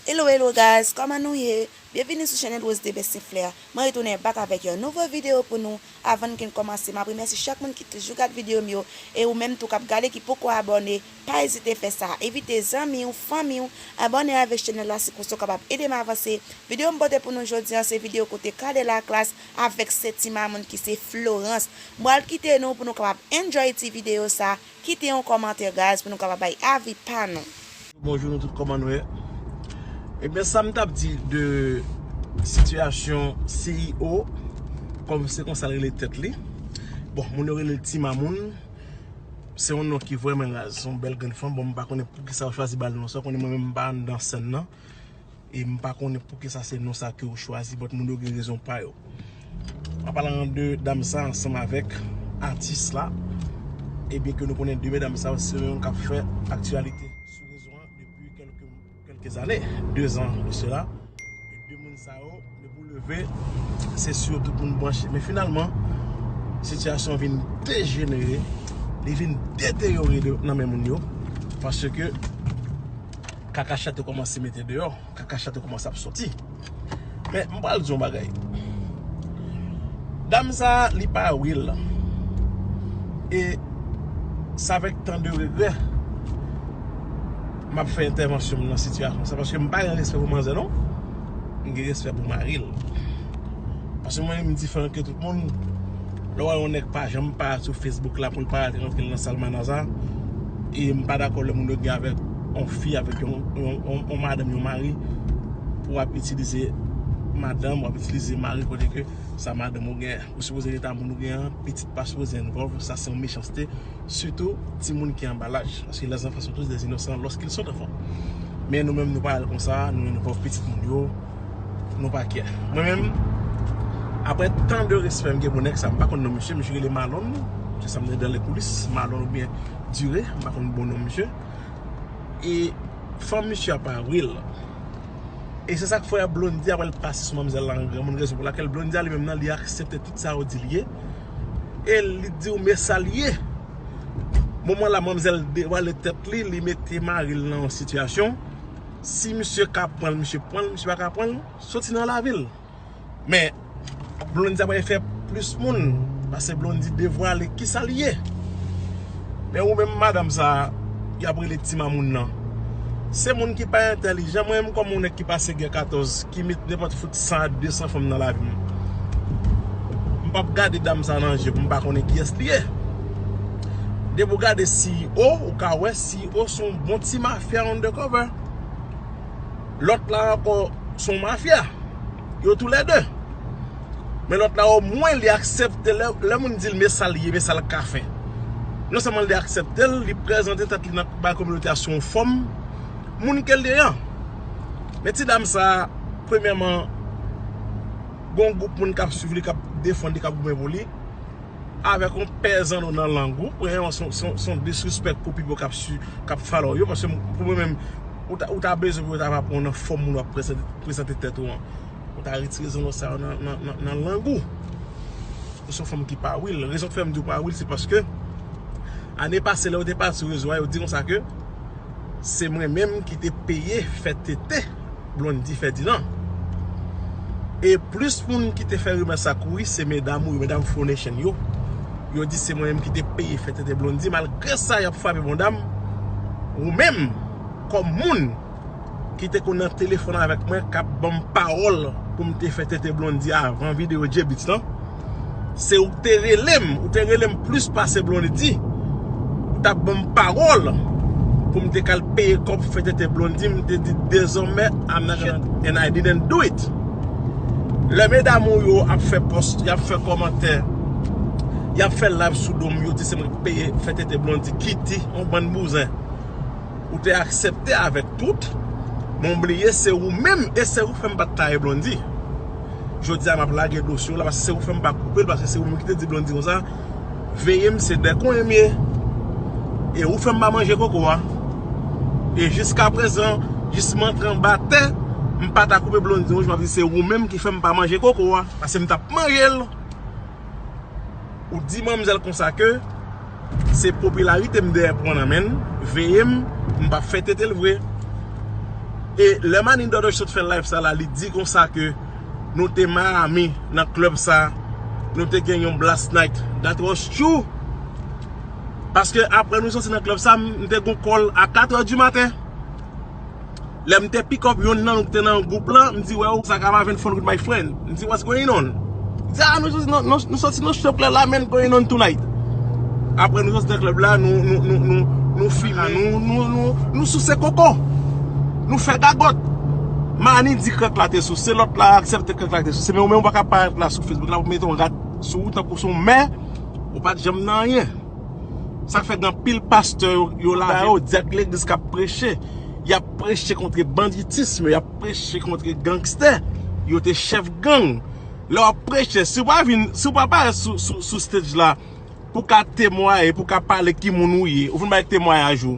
Hello hello guys kòman nou ye byenvini sou channel Rose Debest St Flair mwen retounen back avèk yon nouvo video pou nou avann ke n kòmanse map remèsye chak moun ki toujou gad video m yo e ou menm tou kap gade ki poko abòne pa ezite fè sa envite zanmi w fanmi w abòne avèk channel la se konsa w kapab ede m avanse video m pote pou nou jodi an se video kote Cadet la Klass avèk sè ti mamoun ki se Florence m pral kite nou pou nou kapab enjoy ti video sa Kite yon kòmantè guys pou nou kapab bay avi pa nou. Bonjou nou tout koman nou ye Ebyen sa m tap di de sitiyasyon CEO kòm se konsa l rele tèt li bon moun yo rele l ti mamoun se yon non ki vrèman raz se yon bèl grenn fanm bon m pa konnen poukisa yo chwazi ba l non sa konnen mwen menm m pa anndan sèn nan. E m pa konnen poukisa se non sa ke ou chwazi but moun yo gen rezon pa yo. An palan de dam sa ansanm avèk atis la, ebyen ke nou konnen 2 medam sa yo se yo menm k ap fè aktyalite sou rezo an depi kèlke zane, 2 zan de sela. 2 moun sa yo. Depi w leve, se si yo tout moun branche. Men finalman, sitiyasyon vin dejenere, li vin deteyore nan men moun yo. Paske kaka chat yo kòmanse mete deyò, kaka chat yo kòmanse ap soti. Men, m pral di yon bagay. Dam sa a, li pa wè l. E sa vek tan de regrè, m ap fè entèvansyon m nan sitiyasyon sa. Paske m pa gen respè pou manzè non. m gen respè pou mari l paske mwen menm m diferan ke tout moun lè w wè yon nèg pa janm pa sou Facebook la pou l pa rate rantre l nan salmanaza e m pa dakò lè moun yo gen avèk yon fi avèk yon madanm yon mari pou ap itilize madanm ou ap itilize mari ou kote ke sa madanm ou gen ou sipoze rete ak moun ou gen an pitit pa sipoze envòlv sa se yon mechanste. Sitou timoun ki anba laj. Paske les enfants sont tous des innocents lorsqu'ils sont enfants. Men nou menm nou pa al konsa, nou menm nou pa pitit moun yo, nou pa kè. Mwen menm, aprè tan de respè m gen pou nèg sa, m pa konn non misye, misye rele Malon, se sa m tande dan lè koulis, Malon ou byen Dure, m pa konn bon non misye. E fanm misye a pa ril. E se sa k fè Blondie a wè l pase sou manmzèl la an granmoun, rezon pou lakèl Blondie a li menm nan li aksepte tout sa yo di l ye. e li diw men sa li ye moman la manmzèl devwale tèt li li mete maril nan yon sitiyasyon si misye ka pranl misye pranl misye pa ka pranl soti nan lavil men Blondie ap fè plis moun pase Blondie devwale kisa li ye. Men ou menm madam sa yap rele ti mamoun nan Se moun ki pa entèlijan mwen menm kòm yon nèg ki pase gen 14 ki met nenpòt fout 100 a 200 fanm nan lavi m M pap gade dam sa nan je pou m pa konnen kiyès li ye Depi ou gade CEO ou ka wè CEO se yon bon ti mafya undercover Lòt la ankò se yon mafya. yo tou lè 2 men lòt la o mwen li aksèpte lè moun dil men sal ye men sal ka fè non sèlman li aksèptel li prezante tèt li nan bay kominote a sou yon fòm moun kel ye an men ti dam sa premyèman gon gwoup moun kap swiv li kap defann li kap goumen pou li. avèk yon pè zanno nan lang ou prè an se yon disrespect pou pipo kap follow yo paske pou mwen menm ou ta bezwen pou yo ta va pran w nan fòm moun wap prezante tèt ou an ou ta retire zanno sa yo nan lang ou ou se yon fanm ki pa real rezon ki fè m di w pa real se paske ane pase lè ou te pati sou rezo a yo te di konsa ke se mwen menm ki te peye fè tete. Blondy fè di lan. E plis moun ki te fè rimè sa kouri se medam ou yo, medam Flo Nation yo. Yo di se mwen menm ki te peye fè tenten Blondy. Malgre sa y ap frape bondam. Ou menm kòm moun ki te konn nan telefòn avèk mwen k ap ban m pawòl pou m te fè tenten Blondy avan videyo J-Beatz lan. Se ou k te rele m, ou te rele m plis pase Blondy. Ou t ap ban m pawòl pou m te k al peye kòb pou fè tete Blondy, m te di dezòmè I'm not gonna do it and I didn't do it. Lè medam ou yo ap fè pòs, y ap fè kòmantè, y ap fè live sou do m, yo di se mwen k peye fè tete Blondy, ki di yon bann bouzen. Ou te aksepte avèk tout, men w bliye se ou menm e se ou k fè m pa t taye Blondy. Jodi a map lage dosye w la paske se ou fèm pa koupe l paske se ou menm ki te di Blondy konsa veye m se dè konyen m ye e ou fèm pa manje koko a e jiska prezan jis m antre anba tè m pa ta koupe Blondy w jis map di se ou menm ki fèm pa manje koko a paske m tap manje l. Ou di manmzèl konsa ke se popilarite m dèyè pran nan menn, veye m, m pap fè tete l vre. E lè Mannie Dordoy sot fè live sa la li di konsa ke nou te Miami nan club sa, nou te gen yon blast night. That was true! Paske apre nou soti nan club sa, m te gen yon call a 4 heures du matin. Lè m te pick up yonn nan nou ki te nan gwoup lan, m di, Well, sa ka pa vin fun with my friend. M di, What's going on? Li di, Ah, nou soti nan strip club la, men going on tonight. Apre nou soti nan club la, nou fimen, nou souse koko. Nou fè gagòt. Manny di krèk la te souse, lòt la aksepte krèk la te souse. Men ou menm ou pa ka parèt la sou Facebook la pou mete yon rad sou ou tankou se yon mè, ou pa t janm nan anyen. Sak fè gen anpil pastè yo lave yo diak legliz kap preche yap preche kontre banditisme yap preche kontre gangstè yo te chèf gang lè wap preche si wap vin si wap aparè sou stage la pou ka temwaye pou ka pale ki moun ou ye ou vin bay temwayaj ou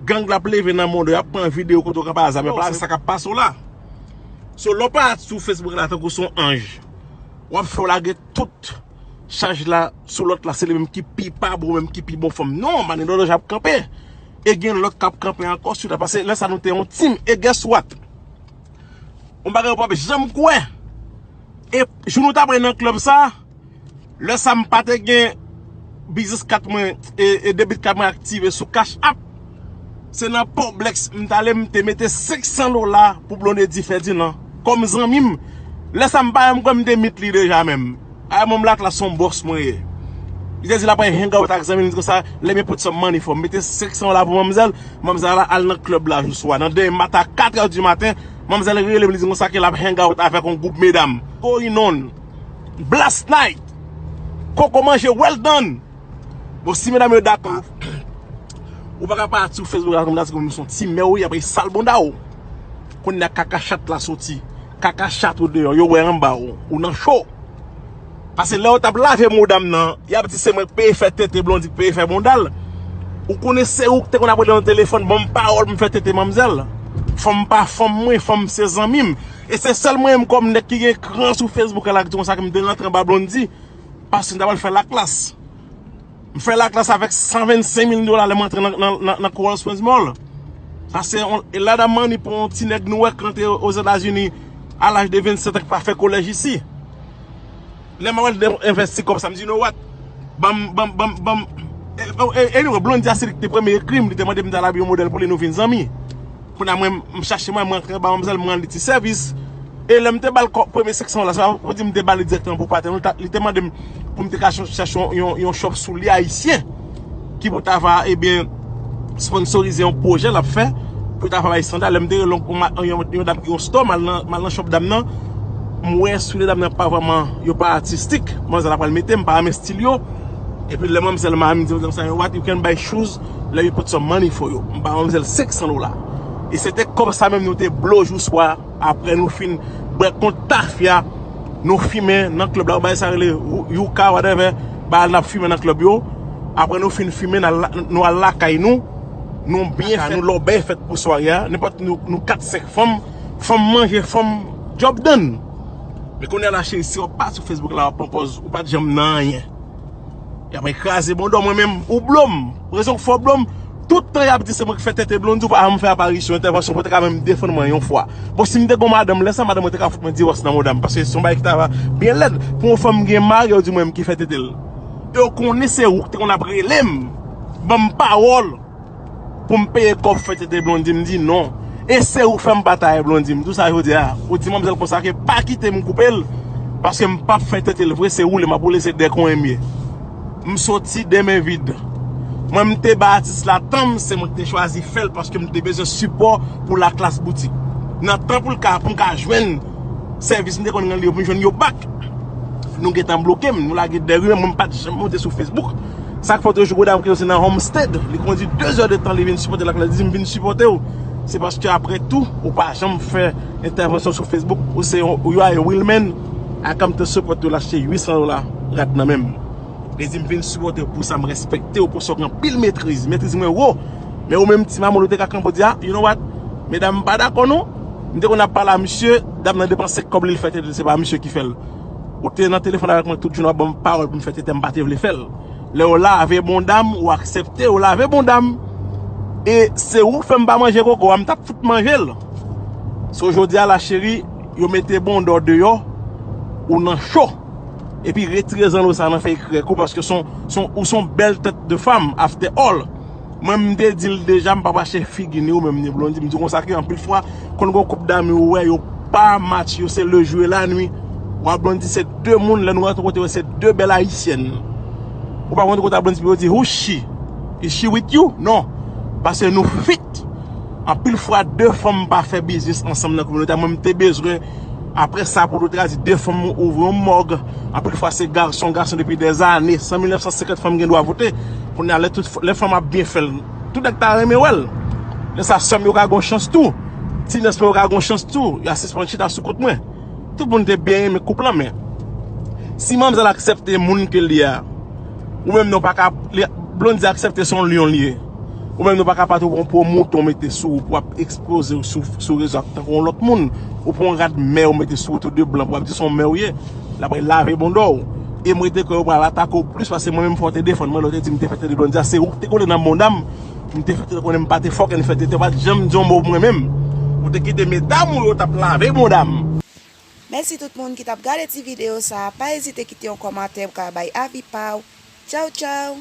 gang lap leve nan mòd ou yap pran video kote ou ka pale zam yap pale se sakap pase w la so lè wap aparè sou facebook la tankou son anj wap fè w lage tout chaj la sou lòt la se li menm ki pi pa bon menm ki pi bon fanm non mannen lòt jan ap kanpe e gen lòt kap kanpe ankò sou li pase lè sa nou te yon team e guess what yon bagay ou pap janm kwè e jou nou ta pral nan club sa lè sa m pa te gen biznis kat mwen e debit kat mwen aktive sou cash app Se nan poblex m t ale m te mete 500 dola pou Blondedy Ferdinand kòm zanmi m lè sa m pa menm kwè m te meet li deja menm ay manm laklas son bòs mwen ye li te di l ap al hang out ak zanmi l konsa let me put some money for m mete 500 dola pou manmzèl manmzèl la al nan club la jou swa nan demen maten a 4 è di maten manmzèl rele m li di m konsa ke l ap hang out avèk yon gwoup medam going on blast night koko manje well done. Bon si medam yo dakò Ou pa ka pa sou Facebook la kòmantè kòm son ti mèw ye aprè sal bounda ou Kounye a kaka chat la soti Kaka chat ou deyò yo wè anba ou Ou nan cho Pase lèw tap lave mouda m nan Yap di se mwen k peye fè tete Blondie k peye fè boundal Ou konnen se ou k te konn ap rele nan telefòn Banm pawòl m fè tete manmzèl Fanm pa fanm mwen Fanm se zanmim E se sèl mwen menm kòm nèg ki gen kran sou Facebook la k di konsa kem te rantre anba Blondie. Paske m ta pral fè laklas. M fè laklas avèk 125 mil dola lè m antre nan Coral Springs Mall. Paske e lot of money pou yon ti nèg nwè k rantre Ozetazini a laj de 27 an k pa fè kolèj isi. Lè m wè l envesti kòb sa m di you know what? Banm, banm, banm, banm. Anyway, Blondie a se li ki te premye ekri m, li te mande m ta al abi yon modèl pou li nou vin zanmi. Kounya mwen m chache mwen m rantre anba manmzèl m rann ti sèvis e lèm te bal kòb premye 500 la se pa pou di m te bal li dirèkteman pou patenn l li te mandem pou m te ka chache yon shop soulye ayisyen ki pou ta va ebyen sponsorize yon pwojè lap fè pou ta va bay sandal lèm te rele yon dam ki gen yon store mal nan shop dam nan m wè soulye dam nan pa vrèman yo pa atistik manzè la pral metem m pa renmen stil yo epi lè manmzèl m a m di manzè m sa yon what you can buy shoes Lè you put some money for yo. M ba manmzèl 500 dola. E se te kòb sa menm nou te blo jou swa apre nou fin bwè kont tafya nou fimen nan klèb la. Ou bay sa rele Yuka whatever. Bagay nap fimen nan klèb yo. Apre nou fin fimen nou al lakay nou. Nou byen fèt. Nou lòbèy fèt pou sware a. Nenpòt nou 4, 5 fanm. Fanm manje fanm. Job done. Men kounya la cheri si wap pa sou Facebook la wap pran pòz ou pat janm nan anyen. Yap mwen kraze bon do mwen menm ou blom. Rezon k fò blom. Tout tan yap di se mwen k fè tete blon di w pa janm fè aparisyon entèvansyon pou te ka menm defann mwen yon fwa. Bon si m te gon madanm lè sa madanm mwen te ka fout mwen diwòs nan mouda m paske se yon bagay ki ta va byen lèd pou yon fanm gen mari ou di mwen menm ki fè tete l. E w konnen se ou k te konn ap rele m ban m pawòl. Pou m peye kòb fè tete Blondie m di non e se ou fè m batay Blondie m di w sa jodi a ou di manmzèl konsa ke pa kite m koupe l paske m pap fè tete l vre se woule m ap woule se dèkwen m ye m soti de men vid mwen m te bay atis la tan m se mwen ki te chwazi fè l paske m te bezwen sipò pou laklas boutik nan tan pou l ka pou m ka jwenn. Sèvis m te konn rele yo pou m jwenn yo bak. Nou gentan bloke m, nou lage dèyè m, mwen m pa t janm monte sou Facebook. Sa k fè w te jwenn gwo dam ki soti nan Homestead, li kondi 2 zè de tan li vin sipòte l ak lè l di m vin sipòte w. Se paske aprè tou, ou pa janm fè entèvansyon sou Facebook, ou se yon, you are a real man, I come to support you, l achte 800 dola rad nan men m. Li di m vin sipòte w pou sa m respekte w pou sa w gen anpil metriz, metriz mwen wo. Men ou menm ti mamoun ou te ka kanpe ou di a, you know what, medam m pa dakò non, m te konn ap pale a misye, dam nan depanse kòb li l fè tete l se pa misye ki fè l. Ou te nan telefòn avèk mwen tout jounen w ap ban m pawòl pou m fè tete m pa te vle fè l. Lè ou lave bonda m, ou aksepte ou lave bonda m. E se ou k fè m pa manje koko a, m t ap fout manje l. So jodi a la cheri, yo mete bonda w deyò, ou nan cho. Epi retire zanno sa nan fèy krèk ou paske son, son, ou son bèl tèt de fanm after all. Mwen m te dil deja m pa mache figi ni ou menm ni Blondie m di konsa ke anpil fwa konn gon koup dame ou wè yo pa match yo se le jou e la nwi ou a Blondie se 2 moun lè nou rantre kote yo se 2 bèl ayisyèn ou pa konn kote a Blondie pou yo di hoo she is she with you non paske nou fit anpil fwa 2 fanm pa fè biznis ansanm nan kominote a mwen m te bezwen apre sa pou nou te ka di 2 fanm ouvri yon mòg anpil fwa se gason gason depi dèzane san 1950 fanm gen dwa vote. Kounye a lè tout lè fanm ap byen fèl tout nèg ta renmen wèl lè sa sèm yo ka gon chans tou ti nès mwen yo ka gon chans tou ya sispann chita sou kont mwen tout moun te byen renmen koup lan men si manmzèl aksèpte moun kel ye a ou menm nan w paka Blondy aksèpte son lyon li ye ou menm nan w paka pa tou pran po mouton mete sou ou pou wap ekspoze ou sou rezo tankou yon lòt moun ou pran yon rad mè ou mete sou ou tou de blan pou wap di son mè ou ye. La pral lave bon do w. E mwen te kwè yo pral atake w plis pase mwen menm fò w te defann mwen lè w te di m te fè tete Blondya se ou ki te kole nan bonda m m te fè tete konnen m pa te fòken fè tete ou pat janm di yon mo pou mwen menm ou te kite medam ou yo tap lave bonda m. Mèsi tout moun ki tap gade ti video sa pa ezite kite yon kòmantè pou ka bay avi paw tchawtchaw.